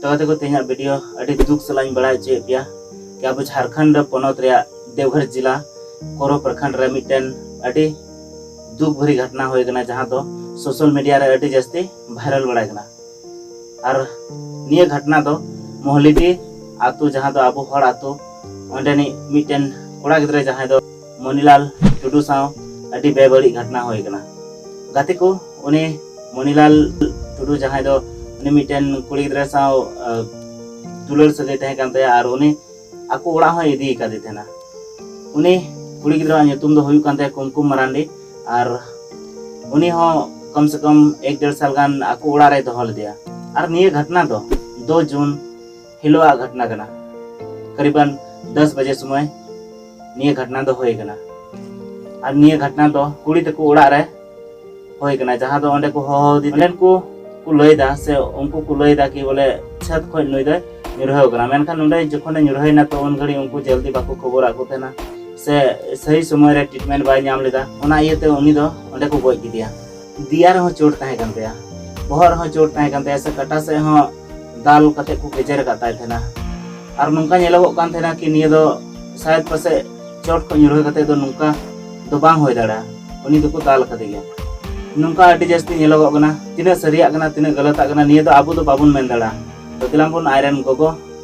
ᱛᱚ ᱜᱟᱛᱮ ᱠᱚ ᱛᱮᱦᱮᱧᱟᱜ ᱵᱷᱤᱰᱤᱭᱳ ᱟᱹᱰᱤ ᱫᱩᱠ ᱥᱟᱞᱟᱜ ᱤᱧ ᱵᱟᱲᱟᱭ ᱦᱚᱪᱚᱭᱮᱫ ᱯᱮᱭᱟ ᱠᱤ ᱟᱵᱚ ᱡᱷᱟᱨᱠᱷᱚᱸᱰ ᱯᱚᱱᱚᱛ ᱨᱮᱭᱟᱜ ᱫᱮᱣᱜᱷᱚᱨ ᱡᱤᱞᱟ ᱠᱚᱨᱚ ᱯᱨᱚᱠᱷᱚᱸᱰ ᱨᱮ ᱢᱤᱫᱴᱮᱱ ᱟᱹᱰᱤ ᱫᱩᱠ ᱵᱷᱟᱹᱨᱤ ᱜᱷᱚᱴᱱᱟ ᱦᱩᱭ ᱟᱠᱟᱱᱟ ᱡᱟᱦᱟᱸ ᱫᱚ ᱥᱳᱥᱟᱞ ᱢᱤᱰᱤᱭᱟ ᱨᱮ ᱟᱹᱰᱤ ᱡᱟᱹᱥᱛᱤ ᱵᱷᱟᱭᱨᱟᱞ ᱵᱟᱲᱟᱭ ᱠᱟᱱᱟ ᱟᱨ ᱱᱤᱭᱟᱹ ᱜᱷᱚᱴᱱᱟ ᱫᱚ ᱢᱚᱦᱞᱤᱰᱤ ᱟᱛᱳ ᱡᱟᱦᱟᱸ ᱫᱚ ᱟᱵᱚ ᱦᱚᱲ ᱟᱛᱳ ᱚᱸᱰᱮᱱᱤᱡ ᱢᱤᱫᱴᱮᱱ ᱠᱚᱲᱟ ᱜᱤᱫᱽᱨᱟᱹ ᱡᱟᱦᱟᱸᱭ ᱫᱚ ᱢᱚᱱᱤᱞᱟᱞ ᱴᱩᱰᱩ ᱥᱟᱶ ᱟᱹᱰᱤ ᱵᱮᱵᱟᱹᱲᱤᱡ ᱜᱷᱚᱴᱱᱟ ᱦᱩᱭ ᱟᱠᱟᱱᱟ ᱜᱟᱛᱮ ᱠᱚ ᱩᱱᱤ ᱢᱚᱱᱤᱞᱟᱞ ᱴᱩᱰᱩ ᱡᱟᱦᱟᱸᱭ ᱫᱚ ᱩᱱᱤ ᱢᱤᱫᱴᱮᱱ ᱠᱩᱲᱤ ᱜᱤᱫᱽᱨᱟᱹ ᱥᱟᱶ ᱫᱩᱞᱟᱹᱲ ᱥᱟᱹᱜᱟᱹᱭ ᱛᱟᱦᱮᱸ ᱠᱟᱱ ᱛᱟᱭᱟ ᱟᱨ ᱩᱱᱤ ᱟᱠᱚ ᱚᱲᱟᱜ ᱦᱚᱸᱭ ᱤᱫᱤ ᱟᱠᱟᱫᱮ ᱛᱟᱦᱮᱱᱟ ᱩᱱᱤ ᱠᱩᱲᱤ ᱜᱤᱫᱽᱨᱟᱹᱣᱟᱜ ᱧᱩᱛᱩᱢ ᱫᱚ ᱦᱩᱭᱩᱜ ᱠᱟᱱ ᱛᱟᱭᱟ ᱠᱩᱢᱠᱩᱢ ᱢᱟᱨᱟᱱᱰᱤ ᱟᱨ ᱩᱱᱤ ᱦᱚᱸ ᱠᱚᱢ ᱥᱮ ᱠᱚᱢ ᱮᱠ ᱰᱮᱲ ᱥᱟᱞ ᱜᱟᱱ ᱟᱠᱚ ᱚᱲᱟᱜ ᱨᱮᱭ ᱫᱚᱦᱚ ᱞᱮᱫᱮᱭᱟ ᱟᱨ ᱱᱤᱭᱟᱹ ᱜᱷᱚᱴᱱᱟ ᱫᱚ ᱫᱩ ᱡᱩᱱ ᱦᱤᱞᱳᱜ ᱟᱜ ᱜᱷᱚᱴᱱᱟ ᱠᱟᱱᱟ ᱠᱟᱨᱤᱵᱟᱱ ᱫᱚᱥ ᱵᱟᱡᱮ ᱥᱚᱢᱚᱭ ᱱᱤᱭᱟᱹ ᱜᱷᱚᱴᱱᱟ ᱫᱚ ᱦᱩᱭ ᱠᱟᱱᱟ ᱟᱨ ᱱᱤᱭᱟᱹ ᱜᱷᱚᱴᱱᱟ ᱫᱚ ᱠᱩᱲᱤ ᱛᱟᱠᱚ ᱚᱲᱟᱜ ᱨᱮ ᱦᱩᱭ ᱠᱟᱱᱟ ᱡᱟᱦᱟᱸ ᱫᱚ ᱚᱸᱰᱮ ᱠᱚ ᱦᱚᱦᱚ ᱟᱫᱮ ᱚᱸᱰᱮᱱ ᱠᱚ ᱠᱚ ᱞᱟᱹᱭᱫᱟ ᱥᱮ ᱩᱱᱠᱩ ᱠᱚ ᱞᱟᱹᱭᱫᱟ ᱠᱤ ᱵᱚᱞᱮ ᱪᱷᱟᱛ ᱠᱷᱚᱱ ᱱᱩᱭ ᱫᱚᱭ ᱧᱩᱨᱦᱟᱹᱣ ᱠᱟᱱᱟ ᱢᱮᱱᱠᱷᱟᱱ ᱱᱚᱸᱰᱮ ᱡᱚᱠᱷᱚᱱᱮ ᱧᱩᱨᱦᱟᱹᱭᱮᱱᱟ ᱛᱚ ᱩᱱ ᱜᱷᱟᱹᱲᱤᱡ ᱩᱱᱠᱩ ᱡᱚᱞᱫᱤ ᱵᱟᱠᱚ ᱠᱷᱚᱵᱚᱨᱟᱫ ᱠᱚ ᱛᱟᱦᱮᱱᱟ ᱥᱮ ᱥᱟᱹᱦᱤ ᱥᱚᱢᱚᱭ ᱨᱮ ᱴᱨᱤᱴᱢᱮᱱᱴ ᱵᱟᱭ ᱧᱟᱢ ᱞᱮᱫᱟ ᱚᱱᱟ ᱤᱭᱟᱹᱛᱮ ᱩᱱᱤ ᱫᱚ ᱚᱸᱰᱮ ᱠᱚ ᱜᱚᱡ ᱠᱮᱫᱮᱭᱟ ᱫᱤᱭᱟ ᱨᱮᱦᱚᱸ ᱪᱳᱴ ᱛᱟᱦᱮᱸ ᱠᱟᱱ ᱛᱟᱭᱟ ᱵᱚᱦᱚᱜ ᱨᱮᱦᱚᱸ ᱪᱳᱴ ᱛᱟᱦᱮᱸ ᱠᱟᱱ ᱛᱟᱭᱟ ᱥᱮ ᱠᱟᱴᱟ ᱥᱮᱫ ᱦᱚᱸ ᱫᱟᱞ ᱠᱟᱛᱮ ᱠᱚ ᱜᱮᱡᱮᱨ ᱟᱠᱟᱫ ᱛᱟᱭ ᱛᱟᱦᱮᱱᱟ ᱟᱨ ᱱᱚᱝᱠᱟ ᱧᱮᱞᱚᱜᱚᱜ ᱠᱟᱱ ᱛᱟᱦᱮᱱᱟ ᱠᱤ ᱱᱤᱭᱟᱹ ᱫᱚ ᱥᱟᱭᱮᱫ ᱯᱟᱥᱮ ᱪᱳᱴ ᱠᱚ ᱧᱩᱨᱦᱟᱹ ᱠᱟᱛᱮ ᱫᱚ ᱱᱚᱝᱠᱟ ᱫᱚ ᱵᱟᱝ ᱦᱩᱭ ᱫᱟᱲᱮᱭᱟᱜᱼᱟ ᱩᱱᱤ ᱫᱚᱠᱚ ᱫᱟᱞ ᱟᱠᱟᱫᱮ ᱜᱮᱭᱟ ᱱᱚᱝᱠᱟ ᱟᱹᱰᱤ ᱡᱟᱹᱥᱛᱤ ᱧᱮᱞᱚᱜᱚᱜ ᱠᱟᱱᱟ ᱛᱤᱱᱟᱹᱜ ᱥᱟᱹᱨᱤᱭᱟᱜ ᱠᱟᱱᱟ ᱛᱤᱱᱟᱹᱜ ᱜᱟᱞᱟᱛᱟᱜ ᱠᱟᱱᱟ ᱱᱤᱭᱟᱹ ᱫᱚ ᱟᱵᱚ ᱫᱚ ᱵᱟᱵᱚᱱ ᱢᱮᱱ ᱫᱟᱲᱮᱭᱟᱜᱼᱟ ᱫᱚᱠᱞᱟᱢ ᱵᱚᱱ ᱟᱡᱨᱮᱱ ᱜᱚᱜᱚ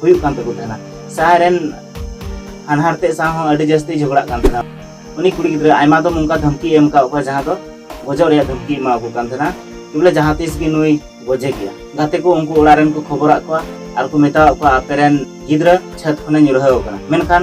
ᱦᱩᱭᱩᱜ ᱠᱟᱱ ᱛᱟᱠᱚ ᱛᱟᱦᱮᱱᱟ ᱥᱟᱦᱟᱭ ᱨᱮᱱ ᱦᱟᱱᱦᱟᱨ ᱛᱮ ᱥᱟᱶ ᱦᱚᱸ ᱟᱹᱰᱤ ᱡᱟᱹᱥᱛᱤ ᱡᱷᱚᱜᱽᱲᱟᱜ ᱠᱟᱱ ᱛᱟᱦᱮᱱᱟ ᱩᱱᱤ ᱠᱩᱲᱤ ᱜᱤᱫᱽᱨᱟᱹ ᱟᱭᱢᱟ ᱫᱚᱢ ᱚᱱᱠᱟ ᱫᱷᱢᱠᱤ ᱮᱢ ᱠᱟᱜ ᱠᱚᱣᱟ ᱡᱟᱦᱟᱸ ᱫᱚ ᱜᱚᱡᱚᱜ ᱨᱮᱭᱟᱜ ᱫᱷᱢᱠᱤ ᱮᱢᱟ ᱠᱚ ᱠᱟᱱ ᱛᱟᱦᱮᱱᱟ ᱵᱚᱞᱮ ᱡᱟᱦᱟᱸ ᱛᱤᱥ ᱜᱮ ᱱᱩᱭ ᱜᱚᱡᱮ ᱜᱮᱭᱟ ᱜᱟᱛᱮ ᱠᱚ ᱩᱱᱠᱩ ᱚᱲᱟᱜ ᱨᱮᱱ ᱠᱚ ᱠᱷᱚᱵᱚᱨᱟᱜ ᱠᱚᱣᱟ ᱟᱨ ᱠᱚ ᱢᱮᱛᱟᱣᱟᱜ ᱠᱚᱣᱟ ᱟᱯᱮ ᱨᱮᱱ ᱜᱤᱫᱽᱨᱟᱹ ᱪᱷᱟᱹᱛ ᱠᱷᱚᱱᱮ ᱧᱩᱨᱦᱟᱹᱣ ᱟᱠᱟᱱᱟ ᱢᱮᱱᱠᱷᱟᱱ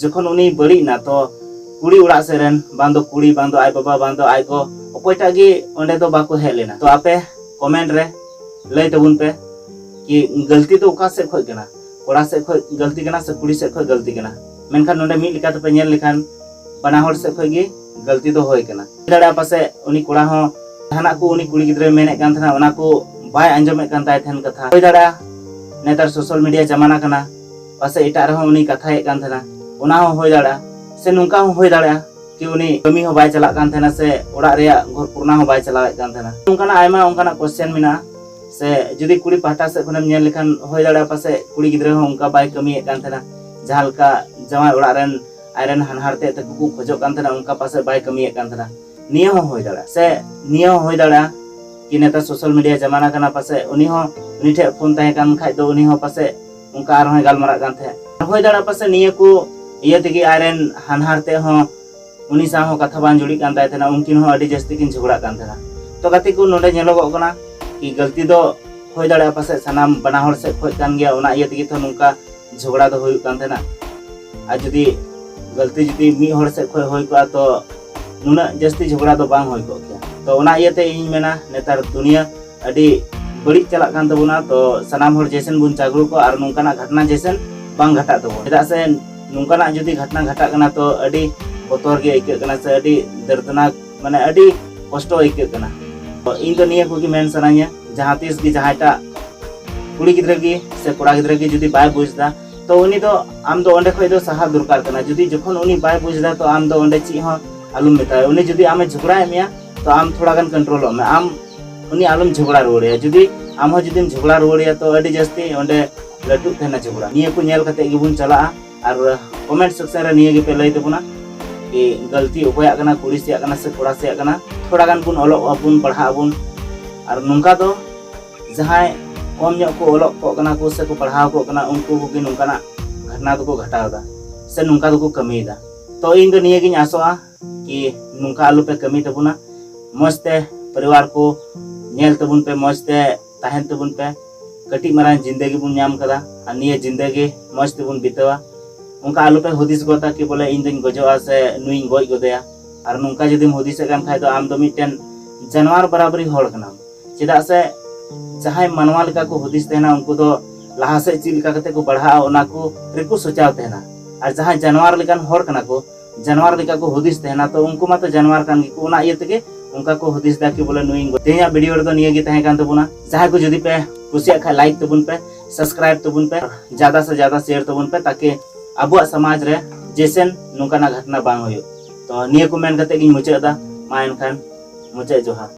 ᱡᱚᱠᱷᱚᱱ ᱩᱱᱤ ᱵᱟᱹᱲᱤᱡ ᱮᱱᱟ ᱛᱚ ᱠᱩᱲᱤ ᱚᱲᱟᱜ ᱥᱮᱫ ᱨᱮᱱ ᱵᱟᱝ ᱫᱚ ᱠᱩᱲᱤ ᱵᱟᱝ ᱫᱚ ᱟᱡ ᱵᱟᱵᱟ ᱵᱟᱝ ᱫᱚ ᱟᱡ ᱜᱚ ᱚᱠᱚᱭᱴᱟᱜ ᱜᱮ ᱚᱸᱰᱮ ᱫᱚ ᱵᱟᱠᱚ ᱦᱮᱡ ᱞᱮᱱᱟ ᱛᱚ ᱟᱯᱮ ᱠᱚᱢᱮᱱᱴ ᱨᱮ ᱞᱟᱹᱭ ᱛᱟᱵᱚᱱ ᱯᱮ ᱠᱤ ᱜᱟᱹᱞᱛᱤ ᱫᱚ ᱚᱠᱟ ᱥᱮᱫ ᱠᱷᱚᱡ ᱠᱟᱱᱟ ᱠᱚᱲᱟ ᱥᱮᱫ ᱠᱷᱚᱡ ᱜᱟᱹᱞᱛᱤ ᱠᱟᱱᱟ ᱥᱮ ᱠᱩᱲᱤ ᱥᱮᱫ ᱠᱷᱚᱡ ᱜᱟᱹᱞᱛᱤ ᱠᱟᱱᱟ ᱢᱮᱱᱠᱷᱟᱱ ᱱᱚᱸᱰᱮ ᱢᱤᱫ ᱞᱮᱠᱟ ᱛᱮᱯᱮ ᱧᱮᱞ ᱞᱮᱠᱷᱟᱱ ᱵᱟᱱᱟ ᱦᱚᱲ ᱥᱮᱫ ᱠᱷᱚᱡ ᱜᱮ ᱜᱟᱹᱞᱛᱤ ᱫᱚ ᱦᱩᱭ ᱠᱟᱱᱟ ᱫᱟᱲᱮᱭᱟᱜᱼᱟ ᱯᱟᱥᱮᱡ ᱩᱱᱤ ᱠᱚᱲᱟ ᱦᱚᱸ ᱡᱟᱦᱟᱱᱟᱜ ᱠᱚ ᱩᱱᱤ ᱠᱩᱲᱤ ᱜᱤᱫᱽᱨᱟᱹᱭ ᱢᱮᱱᱮᱫ ᱠᱟᱱ ᱛᱟᱦᱮᱱᱟ ᱚᱱᱟ ᱠᱚ ᱵᱟᱭ ᱟᱸᱡᱚᱢᱮᱫ ᱠᱟᱱ ᱛᱟᱭ ᱛᱟᱦᱮᱱ ᱠᱟᱛᱷᱟ ᱦᱩᱭ ᱫᱟᱲᱮᱭᱟᱜᱼᱟ ᱱᱮᱛᱟᱨ ᱥᱳᱥᱟᱞ ᱢᱤᱰᱤᱭᱟ ᱡᱟᱢᱟᱱᱟ ᱠᱟᱱᱟ ᱯᱟᱥᱮᱡ ᱮᱴᱟᱜ ᱨᱮᱦᱚᱸ ᱩᱱᱤ ᱠᱟᱛᱷᱟᱭᱮᱫ ᱠᱟᱱ ᱛᱟᱦᱮᱱᱟ ᱚᱱᱟ ᱦᱚᱸ ᱦᱩᱭ ᱫᱟᱲᱮᱭᱟᱜᱼᱟ ᱥᱮ ᱱᱚᱝᱠᱟ ᱦᱚᱸ ᱦᱩᱭ ᱫᱟᱲᱮᱭᱟᱜᱼᱟ ᱠᱤ ᱩᱱᱤ ᱠᱟᱹᱢᱤ ᱦᱚᱸ ᱵᱟᱭ ᱪᱟᱞᱟᱜ ᱠᱟᱱ ᱛᱟᱦᱮᱱᱟ ᱥᱮ ᱚᱲᱟᱜ ᱨᱮᱭᱟᱜ ᱜᱷᱚᱨ ᱠᱚᱨᱱᱟ ᱦᱚᱸ ᱵᱟᱭ ᱪᱟᱞᱟᱣᱮᱫ ᱠᱟᱱ ᱛᱟᱦᱮᱱᱟ ᱱᱚᱝᱠᱟᱱᱟᱜ ᱟᱭᱢᱟ ᱚᱱᱠᱟᱱᱟᱜ ᱠᱚᱥᱪᱮᱱ ᱢᱮᱱᱟᱜᱼᱟ ᱥᱮ ᱡᱩᱫᱤ ᱠᱩᱲᱤ ᱯᱟᱦᱴᱟ ᱥᱮᱫ ᱠᱷᱚᱱᱮᱢ ᱧᱮᱞ ᱞᱮᱠᱷᱟᱱ ᱦᱩᱭ ᱫᱟᱲᱮᱭᱟᱜᱼᱟ ᱯᱟᱥᱮᱡ ᱠᱩᱲᱤ ᱜᱤᱫᱽᱨᱟᱹ ᱦᱚᱸ ᱚᱱᱠᱟ ᱵᱟᱭ ᱠᱟᱹᱢᱤᱭᱮᱫ ᱠᱟᱱ ᱛᱟᱦᱮᱱᱟ ᱡᱟᱦᱟᱸ ᱞᱮᱠᱟ ᱡᱟᱶᱟᱭ ᱚᱲᱟᱜ ᱨᱮᱱ ᱟᱡᱨᱮᱱ ᱦᱟᱱᱦᱟᱨ ᱛᱮᱫ ᱛᱟᱠᱚ ᱠᱚ ᱠᱷᱚᱡᱚᱜ ᱠᱟᱱ ᱛᱟᱦᱮᱱᱟ ᱚᱱᱠᱟ ᱯᱟᱥᱮᱡ ᱵᱟᱭ ᱠᱟᱹᱢᱤᱭᱮᱫ ᱠᱟᱱ ᱛᱟᱦᱮᱱᱟ ᱱᱤᱭᱟᱹ ᱦᱚᱸ ᱦᱩᱭ ᱫᱟᱲᱮᱭᱟᱜᱼᱟ ᱥᱮ ᱱᱤᱭᱟᱹ ᱦᱚᱸ ᱦᱩᱭ ᱫᱟᱲᱮᱭᱟᱜᱼᱟ ᱠᱤ ᱱᱮᱛᱟᱨ ᱥᱳᱥᱟᱞ ᱢᱤᱰᱤᱭᱟ ᱡᱟᱢᱟᱱᱟ ᱠᱟᱱᱟ ᱯᱟᱥᱮᱡ ᱩᱱᱤ ᱦᱚᱸ ᱩᱱᱤ ᱴᱷᱮᱱ ᱯᱷᱳᱱ ᱛᱟᱦᱮᱸ ᱠᱟᱱ ᱠᱷᱟᱡ ᱫᱚ ᱩᱱᱤ ᱦᱚᱸ ᱯᱟᱥᱮᱡ ᱚᱱᱠᱟ ᱟᱨᱦᱚᱸᱭ ᱜᱟᱞᱢᱟᱨᱟᱜ ᱠᱟᱱ ᱛᱟᱦᱮᱸᱫ ᱦᱩᱭ ᱫᱟᱲᱮᱭᱟᱜᱼᱟ ᱯᱟᱥᱮ ᱱᱤᱭᱟᱹ ᱠᱚ ᱤᱭᱟᱹ ᱛᱮᱜᱮ ᱟᱡᱨᱮᱱ ᱦᱟᱱᱦᱟᱨ ᱛᱮ ᱦᱚᱸ ᱩᱱᱤ ᱥᱟᱶ ᱦᱚᱸ ᱠᱟᱛᱷᱟ ᱵᱟᱝ ᱡᱩᱲᱤᱜ ᱠᱟᱱ ᱛᱟᱭ ᱛᱟᱦᱮᱱᱟ ᱩᱱᱠᱤᱱ ᱦᱚᱸ ᱟᱹᱰᱤ ᱡᱟᱹᱥᱛᱤ ᱠᱤᱱ ᱡᱷᱚᱜᱽᱲᱟᱜ ᱠᱟᱱ ᱛᱟᱦᱮᱱᱟ ᱛᱚ ᱜᱟᱛᱮ ᱠᱚ ᱱᱚᱰᱮ ᱧᱮᱞᱚᱜᱚᱜ ᱠᱟᱱᱟ ᱠᱤ ᱜᱟᱹᱞᱛᱤ ᱫᱚ ᱦᱩᱭ ᱫᱟᱲᱮᱭᱟᱜᱼᱟ ᱯᱟᱥᱮ ᱥᱟᱱᱟᱢ ᱵᱟᱱᱟ ᱦᱚᱲ ᱥᱮᱫ ᱠᱷᱚᱡ ᱠᱟᱱ ᱜᱮᱭᱟ ᱚᱱᱟ ᱤᱭᱟᱹ ᱛᱮᱜᱮ ᱛᱚ ᱱᱚᱝᱠᱟ ᱡᱷᱚᱜᱽᱲᱟ ᱫᱚ ᱦᱩᱭᱩᱜ ᱠᱟᱱ ᱛᱟᱦᱮᱱᱟ ᱟᱨ ᱡᱩᱫᱤ ᱜᱟᱹᱞᱛᱤ ᱡᱩᱫᱤ ᱢᱤᱫ ᱦᱚᱲ ᱥᱮᱫ ᱠᱷᱚᱡ ᱦᱩᱭ ᱠᱚᱜᱼᱟ ᱛᱚ ᱱᱩᱱᱟᱹᱜ ᱡᱟᱹᱥᱛᱤ ᱡᱷᱚᱜᱽᱲᱟ ᱫᱚ ᱵᱟᱝ ᱦᱩᱭ ᱠᱚᱜ ᱠᱮᱭᱟ ᱛᱚ ᱚᱱᱟ ᱤᱭᱟᱹᱛᱮ ᱤᱧ ᱢᱮᱱᱟ ᱱᱮᱛᱟᱨ ᱫᱩᱱᱤᱭᱟᱹ ᱟᱹᱰᱤ ᱵᱟᱹᱲᱤᱡ ᱪᱟᱞᱟᱜ ᱠᱟᱱ ᱛᱟᱵᱚᱱᱟ ᱛᱚ ᱥᱟᱱᱟᱢ ᱦᱚᱲ ᱡᱮᱥᱮᱱ ᱵᱚᱱ ᱡᱟᱜᱽᱨᱩ ᱠᱚ ᱟᱨ ᱱᱚᱝᱠᱟᱱᱟᱜ ᱜᱷᱟᱴᱱᱟ ᱡᱮᱥᱮᱱ ᱵᱟᱝ ᱜᱷᱟᱴᱟᱜ ᱛᱟᱵᱚᱱ ᱪᱮᱫᱟᱜ ᱥᱮ ᱱᱚᱝᱠᱟᱱᱟᱜ ᱡᱩᱫᱤ ᱜᱷᱟᱴᱱᱟ ᱜᱷᱟᱴᱟᱜ ᱠᱟᱱᱟ ᱛᱚ ᱟᱹᱰᱤ ᱵᱚᱛᱚᱨ ᱜᱮ ᱟᱹᱭᱠᱟᱹᱜ ᱠᱟᱱᱟ ᱥᱮ ᱟᱹᱰᱤ ᱫᱟᱹᱨᱫᱽᱱᱟᱠ ᱢᱟᱱᱮ ᱟᱹᱰᱤ ᱠᱚᱥᱴᱚ ᱟᱹᱭᱠᱟᱹᱜ ᱠᱟᱱᱟ ᱛᱚ ᱤᱧ ᱫᱚ ᱱᱤᱭᱟᱹ ᱠᱚᱜᱮ ᱢᱮᱱ ᱥᱟᱱᱟᱧᱟ ᱡᱟᱦᱟᱸ ᱛᱤᱥ ᱜᱮ ᱡᱟᱦᱟᱸᱭᱴᱟᱜ ᱠᱩᱲᱤ ᱜᱤᱫᱽᱨᱟᱹ ᱜᱮ ᱥᱮ ᱠᱚᱲᱟ ᱜᱤᱫᱽᱨᱟᱹ ᱜᱮ ᱡᱩᱫᱤ ᱵᱟᱭ ᱵᱩᱡᱽ ᱮᱫᱟ ᱛᱚ ᱩᱱᱤ ᱫᱚ ᱟᱢ ᱫᱚ ᱚᱸᱰᱮ ᱠᱷᱚᱱ ᱫᱚ ᱥᱟᱦᱟ ᱫᱚᱨᱠᱟᱨ ᱠᱟᱱᱟ ᱡᱩᱫᱤ ᱡᱚᱠᱷᱚᱱ ᱩᱱᱤ ᱵᱟᱭ ᱵᱩᱡᱽ ᱮᱫᱟ ᱛᱚ ᱟᱢ ᱫᱚ ᱚᱸᱰᱮ ᱪᱮᱫ ᱦᱚᱸ ᱟᱞᱚᱢ ᱢᱮᱛᱟᱭᱟ ᱩᱱᱤ ᱡᱩᱫᱤ ᱟᱢᱮ ᱡᱷᱚᱜᱽᱲᱟᱭᱮᱫ ᱢᱮᱭᱟ ᱛᱚ ᱟᱢ ᱛᱷᱚᱲᱟ ᱜᱟᱱ ᱠᱚᱱᱴᱨᱳᱞᱚᱜ ᱢᱮ ᱟᱢ ᱩᱱᱤ ᱟᱞᱚᱢ ᱡᱷᱚᱜᱽᱲᱟ ᱨᱩᱣᱟᱹᱲᱮᱭᱟ ᱡᱩᱫᱤ ᱟᱢ ᱦᱚᱸ ᱡᱩᱫᱤᱢ ᱡᱷᱚᱜᱽᱲᱟ ᱨᱩᱣᱟᱹᱲᱮᱭᱟ ᱛᱚ ᱟᱹᱰᱤ ᱡᱟᱹᱥᱛᱤ ᱚᱸᱰᱮ ᱞᱟᱹᱴᱩᱜ ᱛᱟᱦᱮᱱᱟ ᱡᱷᱚᱜᱽᱲᱟ ᱱᱤᱭᱟᱹ ᱠᱚ ᱧᱮᱞ ᱠᱟᱛᱮ ᱜᱮᱵᱚᱱ ᱪᱟᱞᱟᱜᱼᱟ ᱟᱨ ᱠᱚᱢᱮᱱᱴ ᱥᱮᱠᱥᱚᱱ ᱨᱮ ᱱᱤᱭᱟᱹ ᱜᱮᱯᱮ ᱞᱟᱹᱭ ᱛᱟᱵᱚᱱᱟ ᱠᱤ ᱜᱟᱹᱞᱛᱤ ᱚᱠᱚᱭᱟᱜ ᱠᱟᱱᱟ ᱠᱩᱲᱤ ᱥᱮᱭᱟᱜ ᱠᱟᱱᱟ ᱥᱮ ᱠᱚᱲᱟ ᱥᱮᱭᱟᱜ ᱠᱟᱱᱟ ᱛᱷᱚᱲᱟ ᱜᱟᱱ ᱵᱚᱱ ᱚᱞᱚᱜ ᱟᱵᱚᱱ ᱯᱟᱲᱦᱟᱜ ᱟᱵᱚᱱ ᱟᱨ ᱱᱚᱝᱠᱟ ᱫᱚ ᱡᱟᱦᱟᱸᱭ ᱠᱚᱢ ᱧᱚᱜ ᱠᱚ ᱚᱞᱚᱜ ᱠᱚᱜ ᱠᱟᱱᱟ ᱠᱚ ᱥᱮ ᱠᱚ ᱯᱟᱲᱦᱟᱣ ᱠᱚᱜ ᱠᱟᱱᱟ ᱩᱱᱠᱩ ᱠᱚᱜᱮ ᱱᱚᱝᱠᱟᱱᱟᱜ ᱜᱷᱚᱴᱱᱟ ᱫᱚᱠᱚ ᱜᱷᱟᱴᱟᱣᱫᱟ ᱥᱮ ᱱᱚᱝᱠᱟ ᱫᱚᱠᱚ ᱠᱟᱹᱢᱤᱭᱮᱫᱟ ᱛᱚ ᱤᱧ ᱫᱚ ᱱᱤᱭᱟᱹ ᱜᱤᱧ ᱟᱥᱚᱜᱼᱟ ᱠᱤ ᱱᱚᱝᱠᱟ ᱟᱞᱚ ᱯᱮ ᱠᱟᱹᱢᱤ ᱛᱟᱵᱚᱱᱟ ᱢᱚᱡᱽ ᱛᱮ ᱯᱚᱨᱤᱵᱟᱨ ᱠᱚ ᱧᱮᱞ ᱛᱟᱵᱚᱱ ᱯᱮ ᱢᱚᱡᱽ ᱛᱮ ᱛᱟᱦᱮᱱ ᱛᱟᱵᱚᱱ ᱯᱮ ᱠᱟᱹᱴᱤᱡ ᱢᱟᱨᱟᱝ ᱡᱤᱱᱫᱮᱜᱤ ᱵᱚᱱ ᱧᱟᱢ ᱠᱟᱫᱟ ᱟᱨ ᱱᱤᱭᱟᱹ ᱡᱤᱱᱫᱮᱜᱤ ᱢᱚᱡᱽ ᱛᱮᱵᱚᱱ ᱵᱤᱛᱟᱹᱣᱟ ᱚᱱᱠᱟ ᱟᱞᱚ ᱯᱮ ᱦᱩᱫᱤᱥ ᱜᱚᱫᱟ ᱠᱤ ᱵᱚᱞᱮ ᱤᱧ ᱫᱚᱧ ᱜᱚᱡᱚᱜᱼᱟ ᱥᱮ ᱱᱩᱭᱤᱧ ᱜᱚᱡ ᱜᱚᱫᱮᱭᱟ ᱟᱨ ᱱᱚᱝᱠᱟ ᱡᱩᱫᱤᱢ ᱦᱩᱫᱤᱥᱮᱫ ᱠᱟᱱ ᱠᱷᱟᱡ ᱫᱚ ᱟᱢ ᱫᱚ ᱢᱤᱫᱴᱮᱱ ᱡᱟᱱᱣᱟᱨ ᱵᱟᱨᱟᱵᱟᱨᱤ ᱦᱚᱲ ᱠᱟᱱᱟᱢ ᱪᱮᱫᱟᱜ ᱥᱮ ᱡᱟᱦᱟᱸᱭ ᱢᱟᱱᱣᱟ ᱞᱮᱠᱟ ᱠᱚ ᱦᱩᱫᱤᱥ ᱛᱟᱦᱮᱱᱟ ᱩᱱᱠᱩ ᱫᱚ ᱞᱟᱦᱟ ᱥᱮᱫ ᱪᱮᱫ ᱞᱮᱠᱟ ᱠᱟᱛᱮ ᱠᱚ ᱵᱟᱲᱦᱟᱜᱼᱟ ᱚᱱᱟ ᱠᱚ ᱨᱮᱠᱚ ᱥᱚᱪᱟᱣ ᱛᱟᱦᱮᱱᱟ ᱟᱨ ᱡᱟᱦᱟᱸᱭ ᱡᱟᱱᱣᱟᱨ ᱞᱮᱠᱟᱱ ᱦᱚᱲ ᱠᱟᱱᱟ ᱠᱚ ᱡᱟᱱᱣᱟᱨ ᱞᱮᱠᱟ ᱠᱚ ᱦᱩᱫᱤᱥ ᱛᱟᱦᱮᱱᱟ ᱛᱚ ᱩᱱᱠᱩ ᱢᱟᱛᱚ ᱡᱟᱱᱣᱟᱨ ᱠᱟᱱ ᱜᱮᱠᱚ ᱚᱱᱟ ᱤᱭᱟᱹ ᱛᱮᱜᱮ ᱚᱱᱠᱟ ᱠᱚ ᱦᱩᱫᱤᱥ ᱫᱟ ᱠᱤ ᱵᱚᱞᱮ ᱱᱩᱭ ᱛᱮᱦᱮᱧᱟᱜ ᱵᱷᱤᱰᱤᱭᱳ ᱨᱮᱫᱚ ᱱᱤᱭᱟᱹ ᱜᱮ ᱛᱟᱦᱮᱸ ᱠᱟᱱ ᱛᱟᱵᱚᱱᱟ ᱡᱟᱦᱟᱸᱭ ᱠᱚ ᱡᱩᱫᱤ ᱯᱮ ᱠᱩᱥᱤᱭᱟᱜ ᱠᱷᱟᱡ ᱞᱟᱭᱤᱠ ᱛᱟᱵᱚᱱ ᱯᱮ ᱥᱟᱵᱥᱠᱨᱟᱭᱤᱵ ᱛᱟᱵᱚᱱ ᱯᱮ ᱡᱟᱫᱟ ᱥᱮ ᱡᱟᱫᱟ ᱥᱮᱭᱟᱨ ᱛᱟᱵᱚᱱ ᱯᱮ ᱛᱟᱠᱤ ᱟᱵᱚᱣᱟᱜ ᱥᱚᱢᱟᱡᱽ ᱨᱮ ᱡᱮᱥᱮᱱ ᱱᱚᱝᱠᱟᱱᱟᱜ ᱜᱷᱚᱴᱱᱟ ᱵᱟᱝ ᱦᱩᱭᱩᱜ ᱛᱚ ᱱᱤᱭᱟᱹ ᱠᱚ ᱢᱮᱱ ᱠᱟᱛᱮ ᱜᱤᱧ ᱢᱩᱪᱟᱹᱫ ᱮᱫᱟ ᱢᱟ ᱮᱱᱠᱷᱟᱱ ᱢᱩᱪᱟᱹᱫ ᱡᱚᱦᱟᱨ